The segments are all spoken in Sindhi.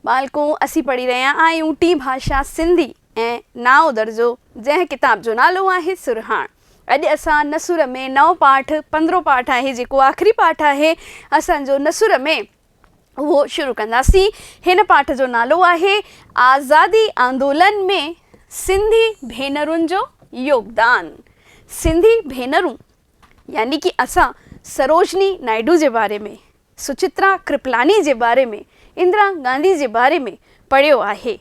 ٻالڪون اسين پڙهي رهيا آهيون ٽين ڀاشا سنڌي ۽ نائون درجو جنهن ڪتاب جو نالو آهي سرهاڻ اڄ اسان نثر ۾ نئون پاٺ پندرهون پاٺ آهي جيڪو آخري پاٺ آهي اسان جو نثر ۾ اهو شروع ڪنداسين هن پاٺ جو نالو آهي آزادي آندولن ۾ سنڌي ڀينرن جو يوگدان سنڌي ڀينرون يعني ڪي اسان سروجني نائيڊو جي باري ۾، سچترا ڪرپلاني جي باري ۾، اندرا گانڌي جي باري ۾ پڙهيو آهي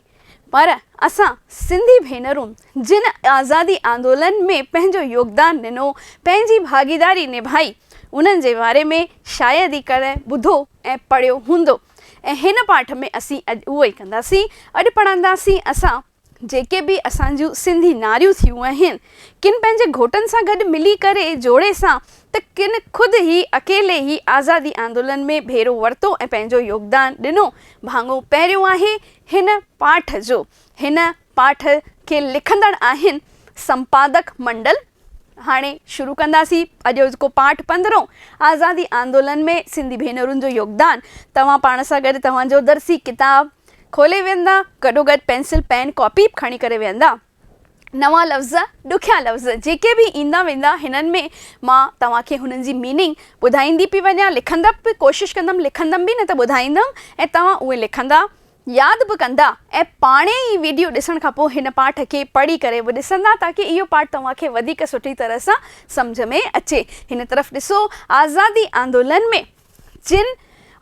پر اسان سنڌي ڀينرون جن آزادي آندولن ۾ پنهنجو يوگدان ڏنو، پنهنجي ڀاڳيداري نڀائي انهن جي باري ۾ شايد ئي ڪڏهن ٻڌو ۽ پڙهيو هوندو ۽ هن پاٺ ۾ اسين اڄ اهو ئي ڪنداسين. اڄ پڙهنداسين اسان. جيڪي به اسان جون سنڌي ناريون ٿيون آهن، ڪن پنهنجي گهوٽن سان گڏ ملي ڪري جوڙي سان ته ڪن خود ئي اڪيلي ئي آزادي آندولن ۾ ڀيرو ورتو ۽ پنهنجو يوگدان ڏنو. ڀاڱو پهريون آهي هن پاٺ جو. هن پاٺ کي لکندڙ آهن سمپادڪ منڊل. هاڻي شروع ڪنداسين اڄوڪو پاٺ پندرهون آزادي آندولن ۾ سنڌي ڀينرن جو يوگدان توهان پاڻ سان گڏ توهان جو درسي ڪتاب کولي ويهندا گڏوگڏ پينسل پين ڪاپي به کڻي ڪري ويهندا نوان لفظ ڏکيا لفظ جيڪي به ايندا ويندا هنن ۾ مان توهان کي هنن جي ميننگ ٻڌائيندي پئي وڃان لکندپ به ڪوشش ڪندم لکندم به نه ته ٻڌائيندم ۽ توهان اهي لکندا ياد به ڪندا ۽ پاڻهي ئي ويڊيو ڏسڻ کان پوء هن پاٺ کي پڙهي ڪري به ڏسندا تاڪه اهو پاٺ توهان کي وڌيڪ سٺي طرح سان سمجهه ۾ اچي. هن طرف ڏسو آزادي آندولن ۾ جن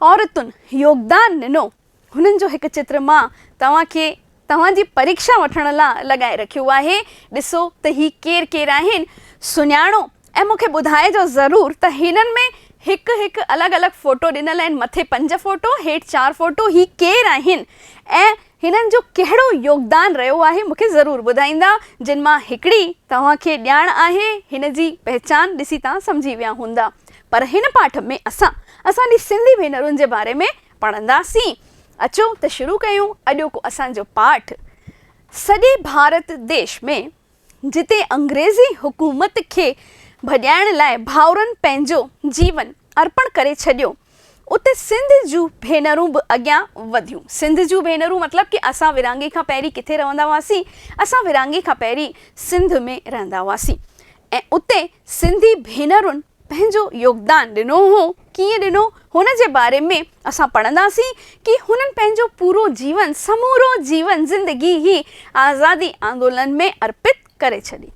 عورتن يوگدان ڏنو هنن جو هڪ چتر مان توهان کي توهان جي پريکشا وٺڻ لا لڳائي رکيو آهي. ڏسو ته هي ڪير ڪير آهن سڃاڻو. ۽ مون کي ٻڌائجو ضرور ته هنن ۾ هڪ هڪ الڳ الڳ فوٽو ڏنل آهن مٿي پنج فوٽو هيٺ چار فوٽو هي ڪير آهن ۽ هنن جو ڪهڙو يوگدان رهيو آهي مون کي ضرور ٻڌائيندا جن مان هڪڙي توهان کي ڄاڻ آهي هن جي پهچان ڏسي توهان سمجهي ويا هوندا پر هن پاٺ ۾ اسان اسان جي سنڌي ڀينرن جي باري ۾ پڙهنداسين اچو ته شروع ڪيون اڄوڪو اسان جو پاٺ سڄي ڀارت ديش ۾ جتي انگريزي حڪومت کي ڀڄائڻ لاء ڀائرن پنهنجو جيون ارپڻ ڪري ڇڏيو، اتي سنڌ جون ڀينرون به اڳيان وڌيون. سنڌ جون ڀينرون مطلب ڪي اسان ورهاڱي کان پهرين ڪٿي رهندا هئاسين؟ اسان ورهاڱي کان پهرين سنڌ ۾ رهندا هئاسين ۽ اتي سنڌي ڀينرن، پنهنجو يوگدان ڏنو هو، ڪيئن ڏنو، هن جي باري ۾ اسان پڙهنداسين ڪي هنن پنهنجو پورو جيون، سمورو جيون، زندگي ئي آزادي آندولن ۾ ارپت ڪري ڇڏي.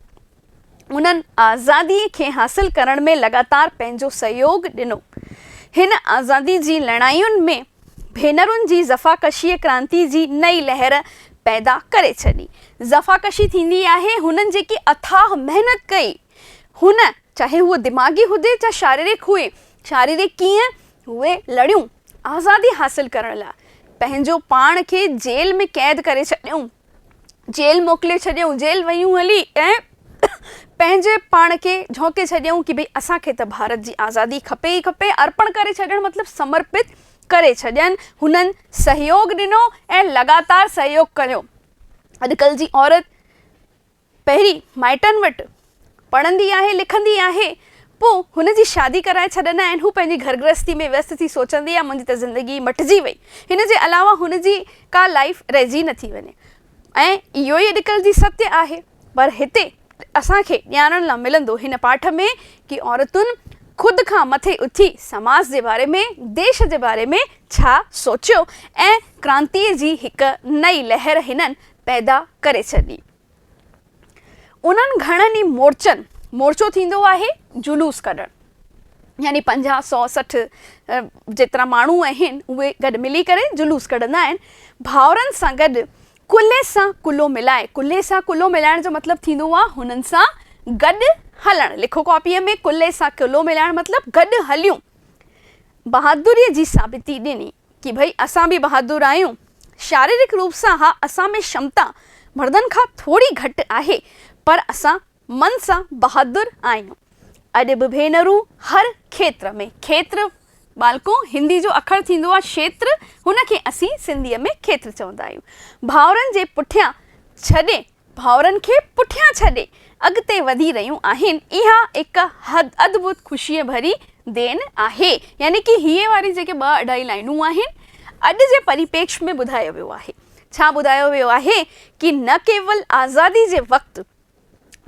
انهن آزادي کي حاصل ڪرڻ ۾ لڳاتار پنهنجو سهيوڳ ڏنو. هن آزادي جي لڙاين ۾ ڀينرن جي زفاڪشيء ڪرانتي جي نئين لهر پيدا ڪري ڇڏي. زفاڪشي ٿيندي آهي، هنن جيڪي اٿاهه محنت ڪئي، هن چاهي هوء دماغي هجي يا شاريرڪ هئي، شاريرڪ ڪيئن، اهي لڙيون، آزادي حاصل ڪرڻ لاء پنهنجو پاڻ کي جيل ۾ قيد ڪري ڇڏيائون، جيل موڪلي ڇڏيائون، جيل ويون هلي ۽ پنهنجي پاڻ کي جهونڪي ڇڏيائون ڪي ڀئي اسان کي ته ڀارت جي آزادي کپي ئي کپي، ارپڻ ڪري ڇڏڻ مطلب سمرپت ڪري ڇڏين، هنن سهيوگ ڏنو ۽ لڳاتار سهيوگ ڪيو، اڄڪلهه جي عورت. پهرين مائٽن وٽ پڙهندي آهي لکندي آهي پوء هن جي شادي ڪرائي ڇڏندا آهن هو پنهنجي گهر گرهستي ۾ ويست ٿي سوچندي آهي منهنجي ته زندگي ئي مٽجي وئي هن جي علاوه هن جي ڪا لائيف رهجي نٿي وڃي ۽ اهو ئي اڄڪلهه جي ستيء آهي پر هتي اسان کي ڄاڻڻ لا ملندو هن پاٺ ۾ ڪي عورتن خود کان مٿي اٿي سماج جي باري ۾ ديش جي باري ۾ ڇا سوچيو ۽ ڪرانتيء جي هڪ نئي لهر هنن پيدا ڪري ڇڏي. انهن گهڻن ئي مورچن، مورچو ٿيندو آهي جلوس ڪڍڻ، يعني پنجاهه، سؤ، سٺ جيترا ماڻهو آهن اهي گڏ ملي ڪري جلوس ڪڍندا آهن، ڀائرن سان گڏ ڪلهي سان ڪلهو ملائي، ڪلهي سان ڪلهو ملائڻ جو مطلب ٿيندو آهي هنن سان گڏ هلڻ، لکو ڪاپيء ۾، ڪلهي سان ڪلهو ملائڻ مطلب گڏ هليون، بهادريء جي ثابتي ڏني. ڪي ڀئي اسان به بهادر آهيون. شاريرڪ روپ سان اها اسان ۾ شمتا مردن کان ٿوري گهٽ آهي پر اسان من سان بهادر آهيون. اڄ به ڀينرون هر کيتر ۾ کيتر ٻالڪو هندي جو اکر ٿيندو آهي شيتر هن کي اسين سنڌي ۾ کيتر چوندا آهيون ڀائرن جي پٺيان ڇڏي ڀائرن کي پٺيان ڇڏي اڳتي وڌي رهيون آهن اها هڪ حد ادڀت خوشيء ڀري دين آهي يعني ڪي هيء واري جيڪي ٻه اڍائي لائينون آهن اڄ جي پريپيڪش ۾ ٻڌايو ويو آهي ڇا ٻڌايو ويو آهي ڪي نه ڪيول آزادي جي وقت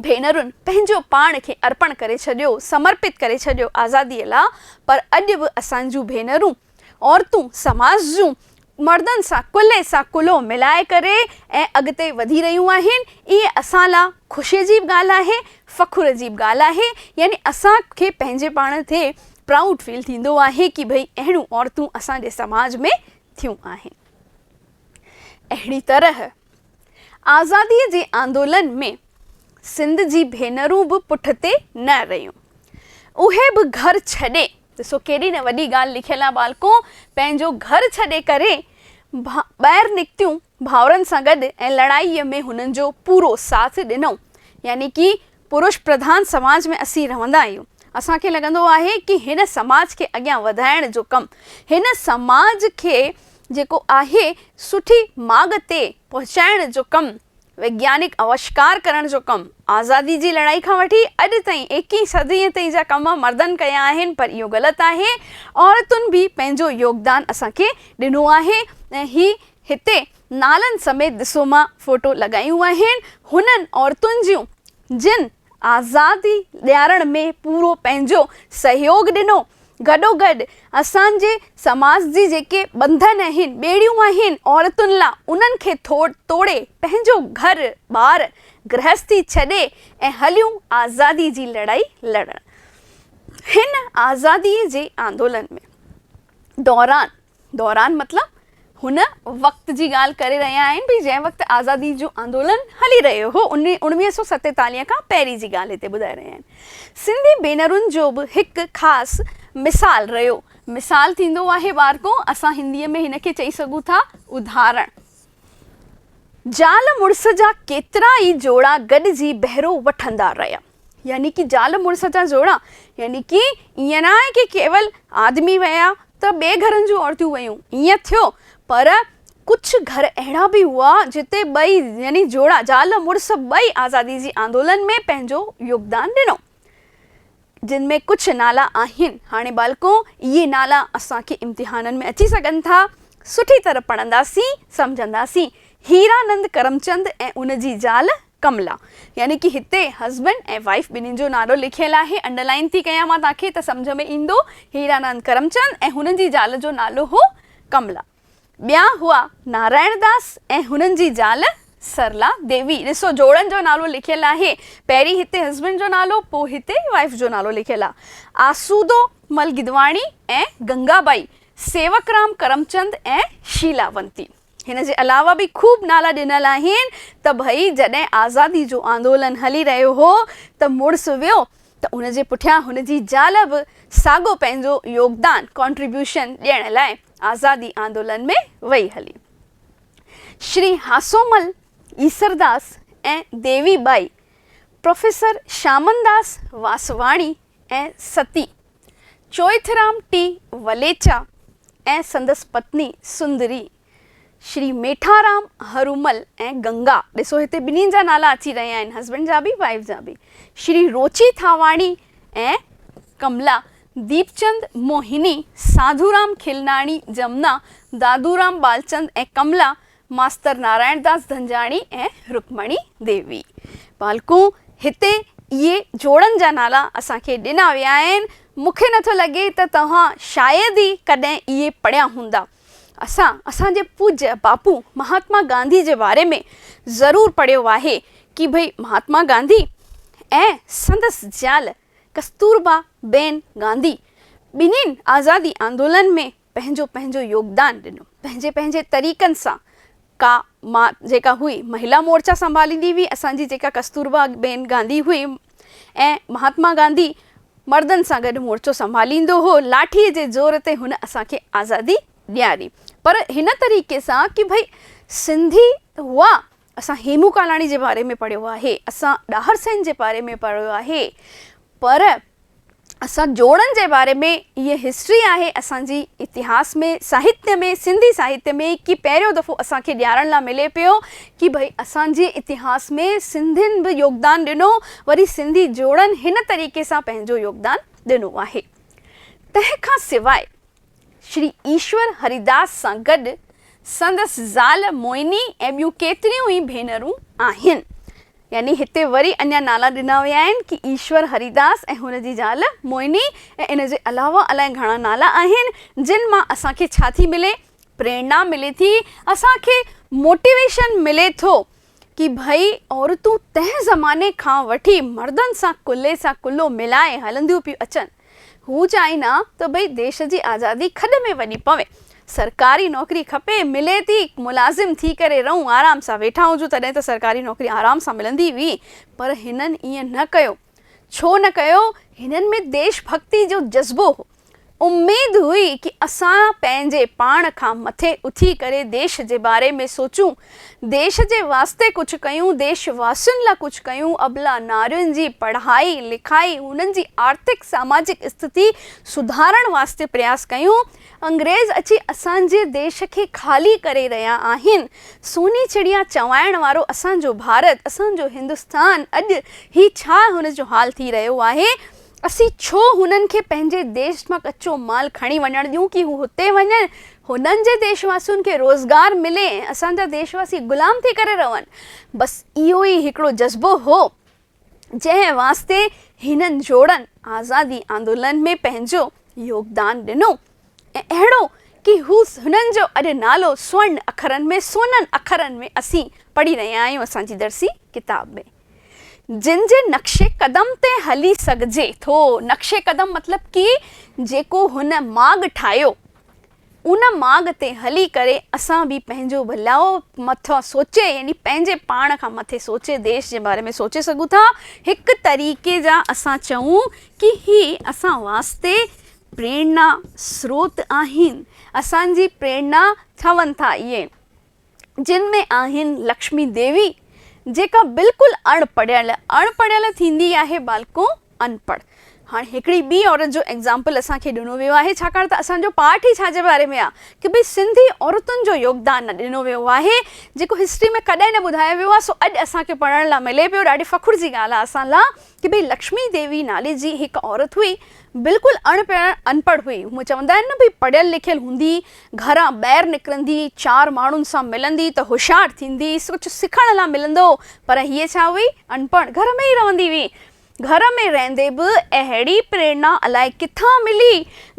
ڀينرن پنهنجو پاڻ کي ارپڻ ڪري ڇڏيو سمرپت ڪري ڇڏيو آزادي لا پر اڄ به اسان جون ڀينرون عورتون سماج جون مردن سان ڪلهي سان ڪلهو ملائي ڪري ۽ اڳتي وڌي رهيون آهن اهي اسان لا خوشي جي به ڳالهه آهي فخر جي به ڳالهه آهي يعني اسان کي پنهنجي پاڻ تي پرائوڊ فيل ٿيندو آهي ڪي ڀئي اهڙيون عورتون اسان جي سماج ۾ ٿيون آهن اهڙي طرح آزاديء جي آندولن ۾ سنڌ جي ڀينرون به پٺتي نه رهيون. اهي به گهر ڇڏي، ڏسو ڪيڏي نه وڏي ڳالهه لکيل آهي ٻالڪو، پنهنجو گهر ڇڏي ڪري ٻاهر نڪتيون ڀائرن سان گڏ ۽ لڙائيء ۾ هنن جو پورو ساٿ ڏنو يعني ڪي پرش پرڌان سماج ۾ اسين رهندا آهيون، اسان کي لڳندو آهي ڪي هن سماج کي اڳيان وڌائڻ جو ڪم، هن سماج کي جيڪو آهي سٺي ماڳ تي پهچائڻ جو ڪم، ويگيانڪ اوشڪار ڪرڻ جو ڪم، آزادي جي لڙائي کان وٺي اڄ تائين ايڪيهين صديء تائين جا ڪم مردن ڪيا آهن پر اهو غلط آهي، عورتن به پنهنجو يوگدان اسان کي ڏنو آهي ۽ هي هتي نالن سميت ڏسو مان فوٽو لڳايون آهن هنن عورتن جون جن آزادي ڏيارڻ ۾ پورو پنهنجو سهيوڳ ڏنو گڏوگڏ اسان جي سماج جي جيڪي ٻنڌن آهن ٻيڙيون آهن عورتن لا انهن کي توڙي پنهنجو گهر ٻار گرهستي ڇڏي ۽ هليون آزادي جي لڙائي لڙڻ هن آزادي جي آندولن ۾ دوران دوران مطلب هن وقت جي ڳالهه ڪري رهيا آهن ڀئي جنهن وقت آزادي جو آندولن هلي رهيو هو ان اوڻويهه سؤ ستيتاليهه کان پهرين جي ڳالهه هتي ٻڌائي رهيا آهن سنڌي ڀينرن جو به هڪ خاص مثال رهيو مثال ٿيندو آهي ٻارڪو اسان هندي ۾ هن کي چئي سگهون ٿا ادهارڻ زال مڙس جا ڪيترا ئي جوڙا گڏجي بهرو وٺندا رهيا. يعني ڪي زال مڙس جا جوڙا، يعني ڪي ائين نه آهي ڪي ڪيول آدمي ويا ته ٻئي گهرن جون عورتيون ويون، ائين ٿيو، پر ڪجهه گهر اهڙا به هئا جتي ٻئي يعني جوڙا زال مڙس ٻئي آزادي جي آندولن ۾ پنهنجو يوگدان ڏنو. جن ۾ ڪجهه نالا آهن. هاڻي ٻالڪو اهي نالا اسان کي امتحانن ۾ اچي سگهن ٿا، سٺي طرح پڙهنداسين، سمجهنداسين. هيرانند ڪرمچند ۽ ان جي زال ڪملا، يعني ڪي هتي هسبنڊ ۽ وائيف ٻنهين جو نالو لکيل آهي، انڊرلائين ٿي ڪيان مان توهان کي ته سمجهه ۾ ايندو، هيرانند ڪرمچند ۽ هنن جي زال جو نالو هو ڪملا. ٻيا هئا نارائڻ داس ۽ هنن جي زال سرلا ديوي. ڏسو جوڙن جو نالو لکيل آهي، پهرين هتي هسبنڊ جو نالو پوء هتي وائيف جو نالو لکيل آ. آسودو مل گدواڻي ۽ گنگا ٻائي، سيوڪرام ڪرمچند ۽ شيلاونتي. هن جي علاوه به خوب نالا ڏنل آهن ته ڀئي جڏهن آزادي جو آندولن هلي رهيو هو ته مڙس ويو ته ان جي پٺيان هن جي زال به ساڳو پنهنجو يوگدان، Contribution، ڏيڻ لاء آزادي آندولن ۾ وئي هلي. شري هاسومل، ايسرداس ۽ ديوي ٻائي، پروفيسر شامنداس واسواڻي ۽ ستي چوئٿرام ٽي وليچا ۽ سندس پتني سندري، شري ميٺارام هرومل ۽ گنگا، ڏسو هتي ٻنهين جا نالا اچي رهيا آهن، هسبنڊ جا به وائيف جا به، شري روچي ٿاواڻي ۽ ڪملا، ديپچند، موهني، ساڌورام کلناڻي، جمنا، دادورام ٻالچند ۽ ڪملا، ماستر نارائڻ داس ڌنجاڻي ۽ رڪمڻي ديوي پالڪون هتي اهي جوڙن جا نالا اسان کي ڏنا ويا آهن. مون کي نٿو لڳي ته توهان شايد ئي ڪڏهن اهي پڙهيا هوندا. اسان اسان جي پوجيه باپو مهاتما گانڌي جي باري ۾ ضرور پڙهيو آهي ڪي ڀئي مهاتما گانڌي ۽ سندس زال ڪستوربا بين گانڌي ٻنهين آزادي آندولن ۾ پنهنجو پنهنجو يوگدان ڏنو پنهنجي پنهنجي طريقن سان ڪا مان جيڪا هئي مهيلا مورچا سنڀاليندي هئي اسان جي جيڪا ڪستوربا بين گانڌي هئي ۽ مهاتما گانڌي مردن سان گڏ مورچو سنڀاليندو هو لاٺي جي زور تي هن اسان کي آزادي ڏياري پر هن طريقي سان ڪي ڀئي سنڌي هئا اسان هيمون ڪالاڻي جي باري ۾ پڙهيو آهي، اسان ڏاهر سين جي باري ۾ پڙهيو آهي پر اسان جوڙن جي باري ۾ هيء هسٽري آهي اسان جي اتهاس ۾ ساهتيه ۾ سنڌي ساهتيه ۾ ڪي پهريون دفعو اسان کي ڄاڻڻ لا ملي پيو ڪي ڀئي اسان جي اتهاس ۾ سنڌين به يوگدان ڏنو وري سنڌي جوڙن هن طريقي سان پنهنجو يوگدان ڏنو آهي تنهن کان سواء شري ايشور هريداس سان گڏ سندس زال موئني ۽ ٻيون ڪيتريون ئي ڀينرون آهن. يعني هتي وري اڃا نالا ڏنا ويا آهن ڪي ايشور هريداس ۽ هن جي زال موئني ۽ ان جي علاوه الائي گهڻا نالا آهن جن مان اسان کي ڇا ٿي ملي پريرنا ملي ٿي اسان کي موٽيويشن ملي ٿو ڪي ڀئي عورتون تنهن زماني کان وٺي مردن سان ڪلهي سان ڪلهو ملائي هلنديون پيون اچن. هو چاهين ها ته ڀئي ديش جي آزادي کڏ ۾ وڃي پوي. سرڪاري نوڪري کپي، ملي ٿي، ملازم ٿي ڪري رهون، آرام سان ويٺا هجون تڏهن ته سرڪاري نوڪري آرام سان ملندي هئي پر هنن ائين نه ڪيو. ڇو نه ڪيو؟ هنن ۾ ديش ڀڳتي جو جذبو هو. اميد هئي ڪي اسان پنهنجي پاڻ کان مٿي اٿي ڪري ديش جي باري ۾ سوچون، ديش جي واسطي ڪجهه ڪيون، ديش واسين لا ڪجهه ڪيون، ابلا نارين جي پڙهائي لکائي، هنن جي آرٿڪ ساماجڪ استٿي سڌارڻ واسطي پرياس ڪيون، انگريز اچي اسان جي ديش کي خالي ڪري رهيا آهن. سوني چڙيا چوائڻ وارو اسان جو ڀارت، اسان جو هندستان اڄ هي ڇا هن جو حال ٿي رهيو آهي؟ اسين ڇو هنن کي پنهنجي ديش مان ڪچو مال کڻي وڃڻ ڏيون ڪي هو هتي وڃن، هنن جي ديش واسين کي روزگار ملي ۽ اسان جا ديش واسي غلام ٿي ڪري رهن. بس اهو ئي هڪڙو جذبو هو. جنهن واسطي هنن جوڙن آزادي آندولن ۾ پنهنجو يوگدان ڏنو ۽ اهڙو ڪي هو هنن جو اڄ نالو سورن اکرن ۾ سونن اکرن ۾ اسين پڙهي رهيا آهيون اسان جي درسي ڪتاب ۾. جن جي نقش قدم تي هلي سگهجي ٿو. نقش قدم مطلب ڪي جيڪو هن ماڳ ٺاهيو ان ماڳ تي هلي ڪري اسان به پنهنجو ڀلائو مٿان سوچي يعني پنهنجي پاڻ کان مٿي سوچي ديش جي باري ۾ سوچي سگهون ٿا. هڪ طريقي جا اسان چئون ڪي هي اسان واسطي پريرنا سروت آهن. اسان جي پريرنا ٺهن ٿا اهي. جن ۾ آهن لڪشمي ديوي جيڪا بلڪل اڻ پڙهيل اڻ پڙهيل ٿيندي آهي بالڪو ان پڙهه هاڻي هڪڙي ٻي عورت جو ايگزامپل اسان کي ڏنو ويو آهي ڇاڪاڻ ته اسان جو پاٺ ئي ڇا جي باري ۾ آ ڪه ڀئي سنڌي عورتن جو يوگدان نه ڏنو ويو آهي جيڪو هسٽري ۾ ڪڏهن نه ٻڌايو ويو آ سو اڄ اسان کي پڙهڻ لا ملي پيو ڏاڍي فخر جي ڳالهه آ اسان لا ڪبي لڪشمي ديوي نالي جي هڪ عورت هئي، بلڪل اڻ پڙهيل ان پڙهه هئي، هونء چوندا آهن نه ڀئي پڙهيل لکيل هوندي، گهران ٻاهر نڪرندي، چار ماڻهن سان ملندي ته هوشيار ٿيندي، ڪجهه سکڻ لا ملندو، پر هيء ڇا هئي، اڻ پڙهه، گهر ۾ ئي رهندي هئي. گهر ۾ رهندي به اهڙي پريرنا الائي ڪٿان ملي،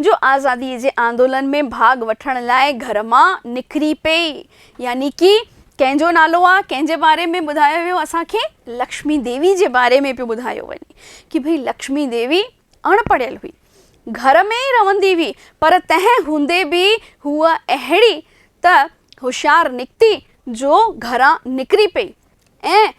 جو آزاديء جي آندولن ۾ ڀاڳ وٺڻ لاء گهر مان نڪري پئي ۽ يعني ڪي ڪنهن جو نالو آ ڪنهن جي باري ۾ ٻڌايو ويو اسان کي لڪشمي ديوي جي باري ۾ پيو ٻڌايو وڃي ڪي ڀئي لڪشمي ديوي اڻ پڙهيل هئي گهر ۾ ئي رهندي هئي پر تنهن هوندي به هوء اهڙي ته هوشيار نڪتي جو گهران نڪري پئي ۽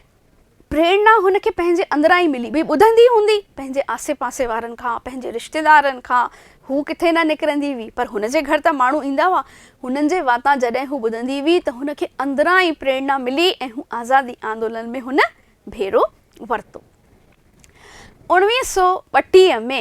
پريرنا هن کي پنهنجي اندران ئي ملي. ڀي ٻڌندي هوندي پنهنجي آسي پاسي وارن کان، پنهنجي رشتيدارن کان، هو ڪٿي نه نڪرندي هئي، پر هن جي گهر ته ماڻهو ايندا هئا، هنن جي واتان جڏهن هو ٻڌندي هئي ته هن کي اندران ئي پريرنا ملي ۽ هو آزادي آندولن ۾ هن ڀيرو ورتو. اوڻويهه سؤ ٻٽيهه ۾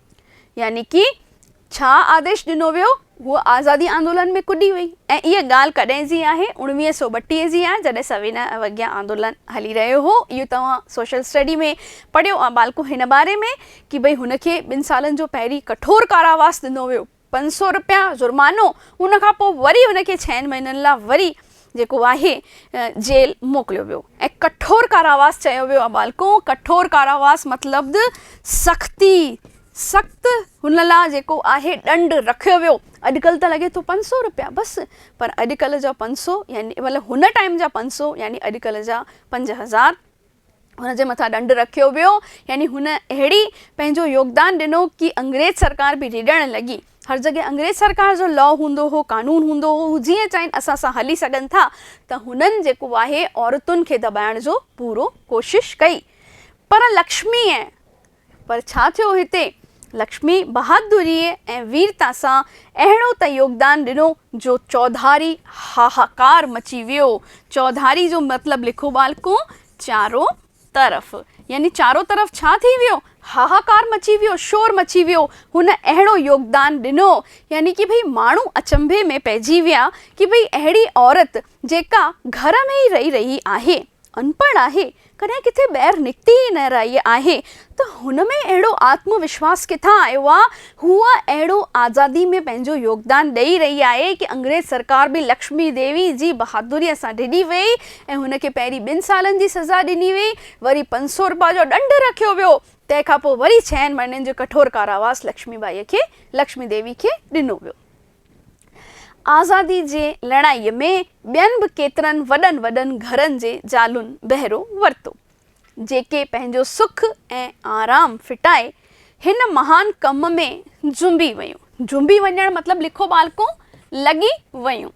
يعني ڪي ڇا آديش ڏنو ويو هوء آزادي آندولن ۾ ڪڏي وئي ۽ اهي ڳالهه ڪڏهن جي آهي اڻويهه سؤ ٻٽيهه جي آهي جڏهن سوينا اوگيا آندولن هلي رهيو هو اهو توهان سوشل اسٽڊي ۾ پڙهيو آ ٻالڪو هن باري ۾ ڪي ڀئي هن کي ٻن سالن جو پهرين ڪٺور ڪاراواس ڏنو ويو پنج سؤ رپيا جرمانو ان کان پوء وري ان کي ڇهن مهينن لاء وري جيڪو آهي جيل موڪليو ويو ۽ ڪٺور ڪاراواس چيو ويو آهي ٻالڪو ڪٺور ڪاراواس مطلب سختي سخت هن لاء جيڪو آهي ڏنڊ رکيو ويو اڄڪلهه ته لڳي ٿو پنج سؤ رپيا بس پر اڄڪلهه جا پنج سؤ يعني مطلب هن ٽائيم جا پنج سؤ يعني اڄڪلهه جا پنج هزار هن جي مٿان ڏنڊ رکيو ويو، يعني هن اهڙي پنهنجو يوگدان ڏنو ڪي انگريز سرڪار به ريڙڻ لڳي. هر جڳهه انگريز سرڪار جو لا هوندو هو، قانون هوندو هو، هو جيئن چاهين اسان سان هلي سگهن ٿا ته هنن جيڪو آهي عورتن کي دٻائڻ جو پورو ڪوشش ڪئي پر لڪشمي ۽ پر ڇا ٿيو هتي؟ لڪشمي بهادريء ۽ ويرتا سان اهڙو ته يوگدان ڏنو جو چوڌاري هاهاڪار مچي ويو. چوڌاري جو مطلب لکو ٻالڪو، چارو طرف. يعني چارو طرف ڇا ٿي ويو؟ هاهاڪار مچي ويو، شور مچي ويو. هن اهڙو يوگدان ڏنو. يعني ڪي ڀئي ماڻهو اچنڀي ۾ پئجي ويا ڪي ڀئي اهڙي عورت جيڪا گهر ۾ ئي رهي رهي آهي، انپڙهه آهي، ڪڏهن ڪٿي ٻيهر نڪتي ئي نه رهي آهي ته هن ۾ اهڙو آتم وشواس ڪٿان آيو آ؟ هوء اهڙو آزادي ۾ پنهنجو يوگدان ڏئي رهي آهي ڪي انگريز سرڪار به لڪشمي ديوي جي بهادريء سان ڊڄي ويئي ۽ هن کي پهرين ٻن سالن جي سزا ڏني ويئي، وري پنج سو روپا جو ڏنڊ رکيو ويو، تنهن کان پوء وري ڇهن مهينن جو ڪٺور ڪاراواس لڪشمي بائيء کي، لڪشمي ديوي کي، ڏنو ويو. آزادي جي لڙائيء ۾ ٻين به ڪيترن وڏن وڏن گهرن جي زالن بهرو ورتو، جيڪي پنهنجو سک ۽ آرام ڦٽائي هن مهان ڪم ۾ جنبي ويون، جنبي وڃڻ مطلب لکو ٻالڪون لڳي ويون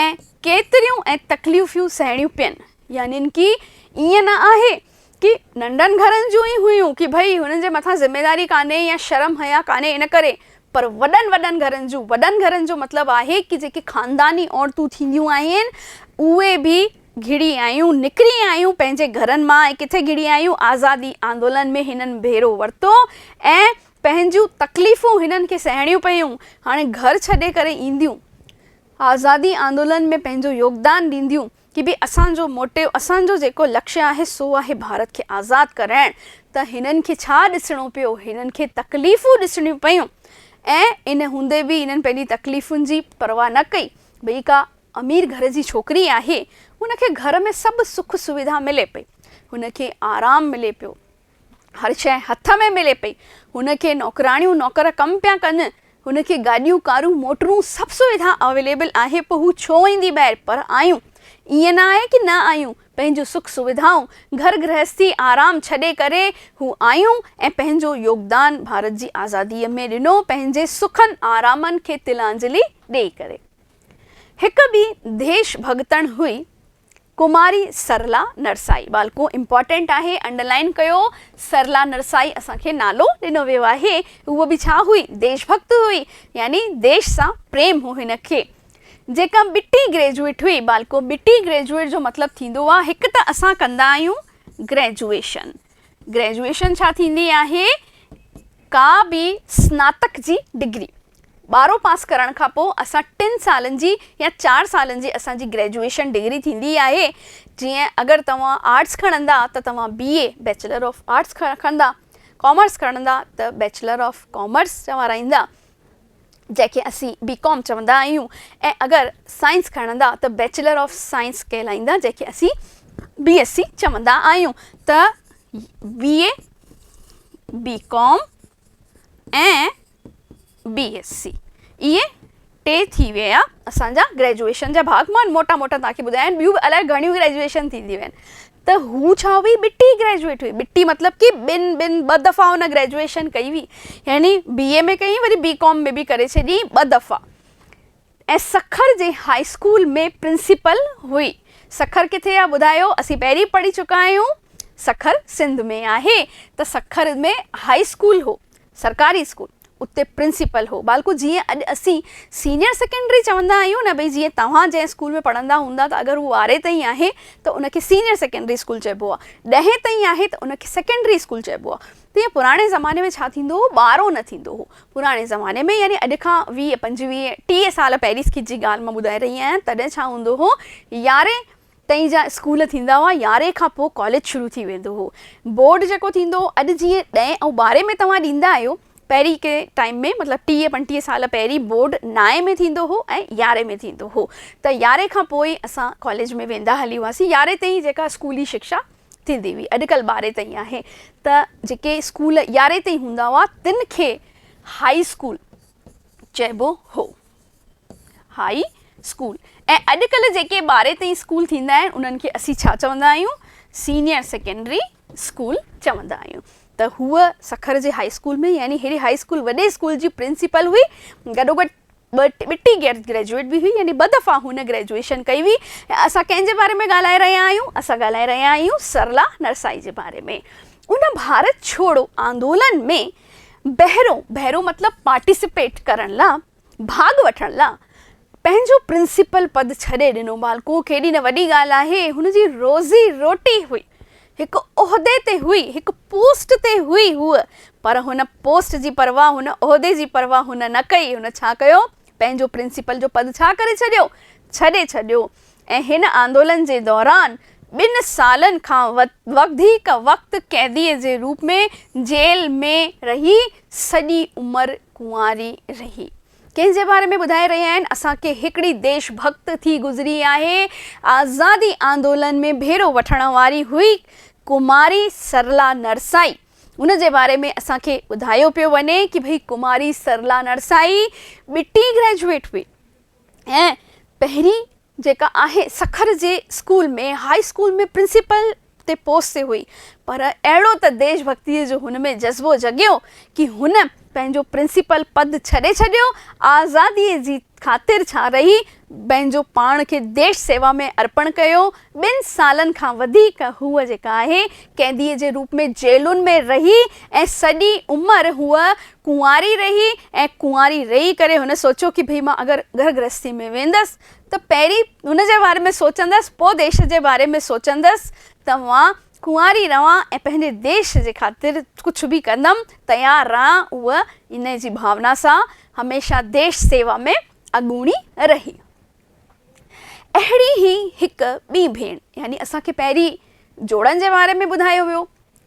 ۽ ڪيتريون ۽ تڪليفيون سهڻيون پين، يعني ڪي ائين نه آهي ڪي ننڍن گهرن جون ئي هيون ڪي ڀئي هنن جي مٿان ذميداري ڪانهي يا شرم حيا ڪانهي ان ڪري پر وڏن وڏن گهرن جون وڏن گهرن جو مطلب آهي ڪي جيڪي خانداني عورتون ٿينديون آهن اهي به گهڙي آيون نڪري آيون پنهنجي گهرن مان ۽ ڪٿي گهڙي آيون آزادي آندولن ۾ هنن ڀيرو ورتو ۽ پنهنجون تڪليفون هنن کي سهڻيون پيون هاڻي گهر ڇڏي ڪري اينديون آزادي آندولن ۾ پنهنجو يوگدان ڏينديون ڪي به اسان جو موٽيو اسان جو جيڪو لڪشي آهي سو آهي ڀارت کي آزاد ڪرائڻ ته هنن کي ڇا ڏسڻو پيو هنن کي تڪليفون ڏسڻيون پيون ۽ ان هوندي به هنن پنهنجي تڪليفن جي پرواهه نه ڪئي ڀئي ڪا امير گهر جي ڇوڪري آهي هن کي گهر ۾ سڀ سک سويڌا ملي پئي هن کي آرام ملي پيو هر شيء هٿ ۾ ملي پئي. هن کي نوڪراڻيون نوڪر ڪم پيا ڪن. هن کي گاڏيون ڪارون موٽرون سڀ سويڌا اويليبل آهي پوء هو ڇو ايندي ٻاهر پر آيون ائين نه آهي ڪي نه آيون پنهنجون سک سويڌائون گهر گرهستي آرام ڇڏي ڪري هو آيون ۽ پنهنجو يوگدان ڀارت جي آزادي ۾ ڏنو پنهنجي سکن آرامن کي تلانجلي ڏئي ڪري هڪ ٻي ديش ڀڳتڻ هئي ڪماري سرلا نرسائي ٻالڪو امپارٽينٽ آهي انڊرلائين ڪيو سرلا نرسائي اسان کي نالو ڏنو ويو آهي هوء به ڇا هئي ديش ڀڪت هئي يعني ديش سان پريم هو هن کي جيڪا ٻٽي گريجوئيٽ هئي ٻالڪو ٻٽي گريجوئيٽ جو مطلب ٿيندو آهي هڪ ته اسان ڪندا آهيون گريجوئيشن گريجوئيشن ڇا ٿيندي آهي؟ ڪا به سناتڪ جي ڊگري ٻارهون پاس ڪرڻ کان پوء اسان ٽن سالن جي يا چار سالن جي اسان جي گريجوئيشن ڊگري ٿيندي آهي جيئن اگر توهان آرٽس کڻندا ته توهان B A bachelor of arts کندا ڪامرس کڻندا ته بيچلر آف ڪامرس چوارائيندا جنهن کي اسين بي ڪام چوندا آهيون ۽ اگر سائنس کڻندا ته بيچلر آف سائنس ڪهلائيندا جنهن کي اسين بي ايس سي چوندا آهيون ته بي اي بي ڪام ۽ بي ايس سي اهي ٽي ٿي ويا اسان جا گريجوئيشن جا ڀاڳ مان موٽا موٽا تان کي ٻڌايا آهن ٻيون به الائي گهڻيون گريجوئيشن ٿينديون آهن ته هو ڇا هئي؟ ٻٽي گريجوئيٽ هئي. ٻٽي مطلب ڪي ٻن ٻن ٻه دفعا هن گريجوئيشن ڪئي هئي. يعني بي اي ۾ ڪيائين وري بي ڪام ۾ به ڪري ڇڏيائين ٻه دفعا. ۽ سکر جي هاء اسڪول ۾ پرنسپل هئي. سکر ڪٿي آهي ٻڌايو؟ اسين پهرين پڙهي چڪا آهيون سکر سنڌ ۾ آهي ته سکر ۾ هاء اسڪول هو. سرڪاري اسڪول اتي پرنسپل هو ٻالڪو جيئن اڄ اسين سينيئر سيڪنڊري چوندا آهيون نه ڀئي جيئن توهان جنهن اسڪول ۾ پڙهندا هوندا ته اگر هو ٻارهين تائين آهي ته ان کي سينيئر سيڪنڊري اسڪول چئبو آهي ڏهين تائين آهي ته ان کي سيڪنڊري اسڪول چئبو آهي تيئن پراڻي زماني ۾ ڇا ٿيندو هو ٻارهون نه ٿيندو هو پراڻي زماني ۾ يعني اڄ کان ويهه پنجويهه ٽيهه سال پهريس کي جي ڳالهه مان ٻڌائي رهي آهيان تڏهن ڇا هوندو هو يارهين تائين جا اسڪول ٿيندا هئا، يارهين کان پوء ڪاليج شروع ٿي ويندو هو. بورڊ جيڪو ٿيندو هو، اڄ جيئن ڏهين ۽ ٻارهين ۾ توهان ڏيندا آهيو، پهرين ڪنهن ٽائيم ۾ مطلب ٽيهه پنجٽيهه سال پهرين بورڊ نائين ۾ ٿيندو هو ۽ يارهين ۾ ٿيندو هو ته يارهين کان پوء ئي اسان ڪاليج ۾ ويندا هلي هئاسين، يارهين تائين جيڪا اسڪولي شڪشا ٿيندي هئي، اڄڪلهه ٻارهين تائين آهي ته جيڪي اسڪول يارهين تائين هوندا هئا تن کي هائي اسڪول. چئبو هو هاء اسڪول ۽ اڄڪلهه جيڪي ٻارهين تائين اسڪول ٿيندا آهن انهن کي اسين ڇا چوندا آهيون سينيئر سيڪنڊري اسڪول چوندا آهيون ته هوء سکر جي هاء اسڪول ۾ يعني ههڙي هاء اسڪول وڏي اسڪول جي پرنسپل هئي گڏوگڏ ٻٽي گريجوئيٽ به هئي يعني ٻه دفعا هن گريجوئيشن ڪئي هئي ۽ اسان ڪنهن جي باري ۾ ڳالهائي رهيا آهيون اسان ڳالهائي رهيا آهيون سرلا نرسائي جي باري ۾ ان ڀارت ڇوڙو آندولن ۾ بهرون بهرون مطلب پارٽيسپيٽ ڪرڻ لا، ڀاڳ وٺڻ لا، پنهنجو پرنسپل پد ڇڏي ڏنو. بالڪون ڪيڏي نه وڏي ڳالهه آهي. هن جي روزي روٽي هئي. هڪ عهدي تي هئي، هڪ پوسٽ تي هئي هوء. پر هن پوسٽ جي پرواهه، هن عهدي جي پرواهه هن نه ڪئي. هن ڇا ڪيو؟ پنهنجو پرنسپل جو پد ڇا ڪري ڇڏيو؟ ڇڏي ڇڏيو. ۽ هن آندولن جي دوران ٻن سالن کان وڌيڪ وقت قيديء جي روپ ۾ جيل ۾ رهي سڄي عمر ڪنواري رهي. ڪنهن جي باري ۾ ٻڌائي رهيا آهن؟ اسان کي هڪڙي ديش ڀڳت ٿي گذري آهي، آزادي آندولن ۾ ڀيرو وٺڻ واري هئي ڪماري سرلا نرسائي. ان جي باري ۾ اسان کي ٻڌايو پيو وڃي ڪي ڀئي ڪماري سرلا نرسائي ٻٽي گريجوئيٽ هئي. ۽ پهرين جيڪا آهي سکر جي اسڪول ۾ هائي اسڪول ۾ پرنسپل تي پوسٽ تي هئي پر اهڙو ته ديش ڀڳتيء جو هن ۾ جذبو جڳيو ڪي هن پنهنجو پرنسپل پد ڇڏي ڇڏيو آزاديء جي خاطر ڇا رهي پنهنجو پاڻ کي ديش سيوا ۾ ارپڻ ڪيو ٻن سالن کان وڌيڪ هوء جيڪا آهي قيديء جي روپ ۾ جيلن ۾ رهي ۽ سڄي عمر هوء ڪنواري رهي ۽ ڪنواري رهي ڪري هن سوچيو ڪي ڀئي مان اگر گهر گرهستي ۾ ويندس ته پهرين هن جي باري ۾ سوچندس پوء ديش جي باري ۾ سوچندس ته مان ڪنواري رهان ۽ پنهنجي ديش جي خاطر ڪجهه به ڪندم تيار رهان هوء انهي جي ڀاونا سان هميشه ديش سيوا ۾ اڳوڻي رهي. اهڙي ئي هڪ ٻي ڀيڻ يعني اسان کي پهرين جوڙن جي باري ۾ ٻڌايو ويو،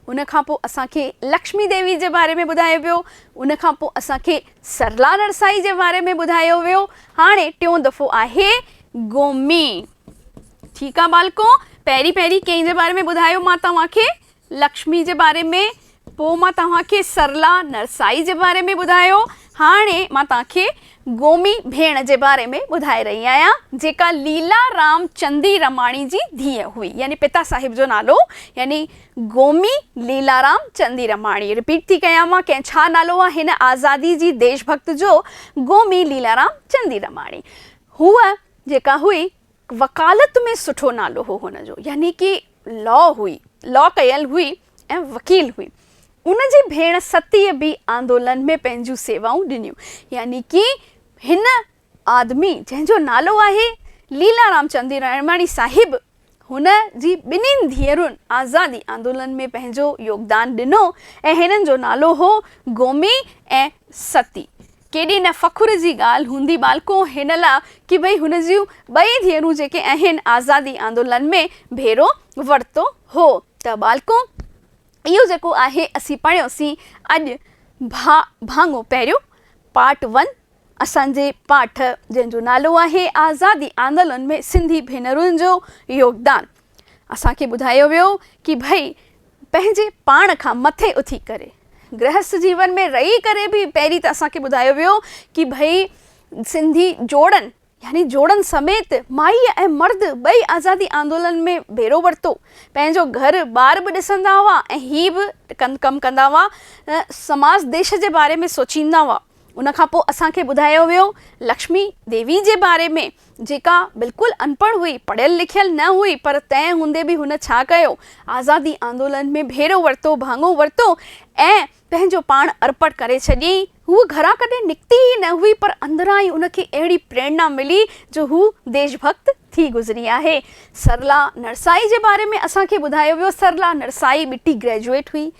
ان کان پوء اسان کي لڪشمي ديوي جي باري ۾ ٻڌايو ويو، ان کان پوء اسان کي سرلا نرسائي جي باري ۾ ٻڌايو ويو، هاڻي ٽيون دفعو آهي گومي. ٺيڪ آ ٻالڪو، پهرين پهرين ڪنهن جي باري ۾ ٻڌايو مان توهان کي؟ لڪشمي جي باري ۾، پوء مان توهان کي سرلا نرسائي جي باري ۾ ٻڌايو. هاڻي مان توهان کي گومي ڀيڻ جي باري ۾ ٻڌائي رهي آهيان، جيڪا ليلا رام چندي رماڻي جي ڌيء هئي. يعني پتا صاحب جو نالو يعني گومي ليلا رام چندي رماڻي. رپيٽ ٿي ڪيانو، ڪنهن ڇا نالو آهي هن آزادي جي ديش ڀڪت جو، گومي ليلا رام چندي رماڻي. هوء جيڪا هئي وڪالت ۾ سٺو نالو هو هن جو يعني ڪي لا هئي لا ڪيل هئي ۽ وڪيل هئي ان جي ڀيڻ ستيء به آندولن ۾ پنهنجون سيوائون ڏنيون يعني ڪي هن آدمي جنهن جو نالو آهي ليلا رام چندي رائڻماڻي صاحب هن جي ٻنهين ڌيئرن آزادي آندولن ۾ پنهنجو يوگدان ڏنو ۽ هنن جو نالو هو گومي ۽ ستي ڪيڏي نه فخر جي ڳالهه هوندي ٻالڪو هن لاء ڪي ڀئي هن جون ٻئي ڌيئرون جيڪي اهن آزادي آندولن ۾ ڀيرو ورتو هو ته ٻالڪو اهو جيڪو آهي اسين پڙهيو سين اڄ ڀا ڀاڱو پهريون پارٽ ون اسان جي پاٺ جنهن جو نالو آهي آزادي آندولن ۾ سنڌي ڀينرن جو يوگدان اسان کي ٻڌايو ويو ڪي ڀئي پنهنجي پاڻ کان مٿي اٿي ڪري گرهست جيون ۾ رهي ڪري به پهرين ته اسان کي ٻڌايو ويو ڪي ڀئي سنڌي جوڙن يعني جوڙن سميت مائي ۽ مرد ٻئي آزادي آندولن ۾ ڀيرو ورتو پنهنجو گهر ٻار به ڏسندا هئا ۽ هي به ڪم ڪندا هئا سماس ديش جي باري ۾ سوچيندا هئا ان کان پوء اسان کي ٻڌايو ويو لڪشمي ديوي جي باري ۾ جيڪا بلڪل انپڙهه هئي، پڙهيل لکيل نه هئي پر تنهن هوندي به هن ڇا ڪيو؟ آزادي آندولن ۾ ڀيرو ورتو، ڀاڱو ورتو ۽ پنهنجو پاڻ ارپڻ ڪري ڇڏيئي. هوء گهران ڪڏهن نڪتي ئي نه هئي پر اندران ئي ان کي اهڙي پريرنا ملي جو هو ديش ڀڪت، ٿي گذري آهي. سرلا نرسائي جي باري ۾ اسان کي ٻڌايو ويو، سرلا نرسائي ٻٽي گريجوئيٽ هئي،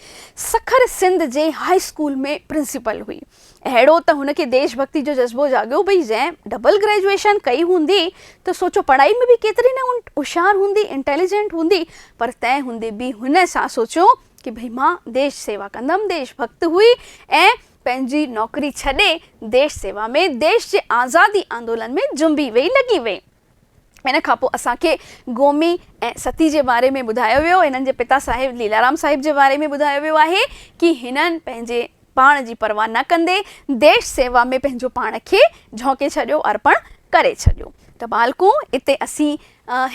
سکر سنڌ جي هاء اسڪول ۾ پرنسپل هئي. اهڙو ته هن کي ديش ڀڳتي جو جذبو جاڳيو ڀئي جنهن ڊبل گريجوئيشن ڪئي هوندي ته سوچو پڙهائي ۾ به ڪيتري نه هوشيار هوندي، انٽيليجنٽ هوندي، پر تنهن هوندي به هن سان سوچيو ته ڀئي مان ديش سيوا ڪندم، ديش ڀڳت هئي ۽ پنهنجي نوڪري ڇڏي ديش سيوا ۾، ديش جي آزادي آندولن ۾ جنبي ويئي، لڳي ويئي. ان کان پوء اسان کي گومي ۽ ستي جي باري ۾ ٻڌايو ويو. هنن جي پتا صاحب ليلارام صاحب جي باري ۾ ٻڌايو ويو آهي ڪي هنن پنهنجي پاڻ جي پرواهه نه ڪندي ديش سيوا ۾ پنهنجو پاڻ کي جهونڪي ڇڏيو، ارپڻ ڪري ڇڏيو. ته ٻالڪو اتي اسين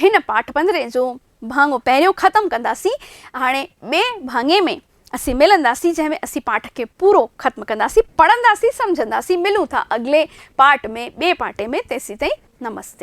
هن پاٽ پنڌري جو ڀاڱو پهريون ختم ڪنداسين هاڻي ٻئي ڀاڱي ۾ اسين ملنداسين جنهن ۾ اسين پاٺ کي پورو ختم ڪنداسين پڙهنداسين سمجهنداسين ملون ٿا اڳلي پارٽ ۾ ٻئي پارٽي ۾ تيسين تائين نمستي.